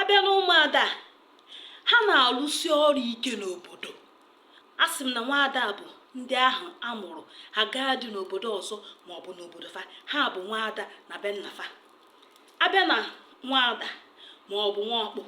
abịa na ụmụada ha na-alụsi ọrụ ike n'obodo a sị m na nwaada bụ ndị ahụ a mụrụ ha gaa di n'obodo ọzọ ma ọ bụ n'obodo fa ha bụ nwaada na be nna fa abịa na nwaada ma ọ bụ nwa ọkpụ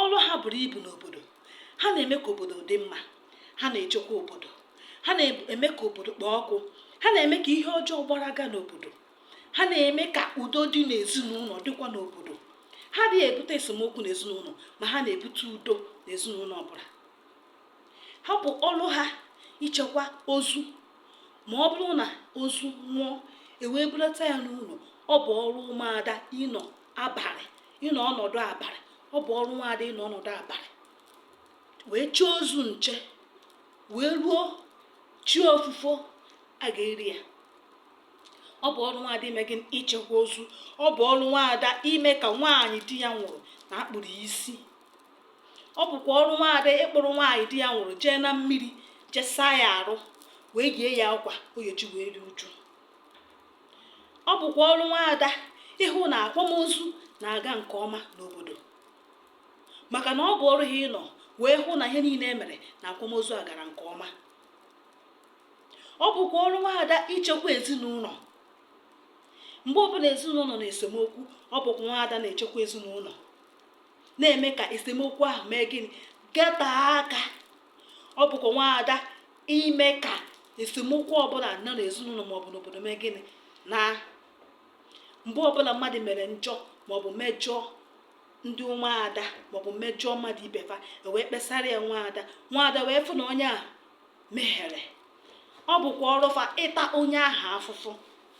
ọrụ ha buru ibu n'obodo ha na-eme ka obodo dị mma ha na-echekwa obodo ha na-eme ka obodo kpoo ọkụ ha na-eme ka ihe ọjọọ gbaraga n'obodo ha na-eme ka udo dị n'ezinụlọ dịkwa n'obodo ha adịghị ebute esemokwu n'ezinụlọ ma ha na-ebute udo n'ezinụlọ ọbụla ha bụ ọrụ ha ichekwa ozu ma ọ bụrụ na ozu nwụọ e wee bulata ya n'ụlọ ọ bụ ọrụ ụmụada ịnọ abalị ịnọ ọnọdụ abalị ọ bụ ọrụ ụmụada ịnọ ọnọdụ abalị wee chie ozu nche wee ruo chi ofufo a ga-eri ya ọ bụ ọrụ nwaada ime gị ichekwa ozu ọ bụ ọrụ nwaada ime ka nwaanyị di ya nwụrụ na a kpụrụ ya isi ọ bụkwa ọrụ nwaada ịkpụrụ nwaanyị di ya nwụrụ jee na mmiri jee saa ya arụ wee yie ya akwa oyoji wee rie uju ọ bụkwa ọrụ nwaada ịhụ na akwamozu na-aga nke ọma n'obodo maka na ọ bụ ọrụ ha ịnọ wee hụ na ihe niile e mere na akwamozu a gara nke ọma ọ bụkwa ọrụ nwaada ichekwa ezinụlọ mgbe ọbụla ezinụlọ nọ n'esemokwu ọ bụkwa nwaada na-echekwa ezinụlọ na-eme ka esemokwu ahụ mee gịnị gata aka ọ bụkwa nwaada ime ka esemokwu ọbụla nọ n'ezinụlọ maọbụ n'obodo mee gịnị naa mgbe ọbụla mmadụ mere njọ maọbụ mejọọ ndị nwaada maọbụ mejọọ mmadụ ibe fa e wee kpesara ya nwaada nwaada wee fụ na onye a mehere ọ bụkwa ọrụ fa ịta onye ahụ afụfụ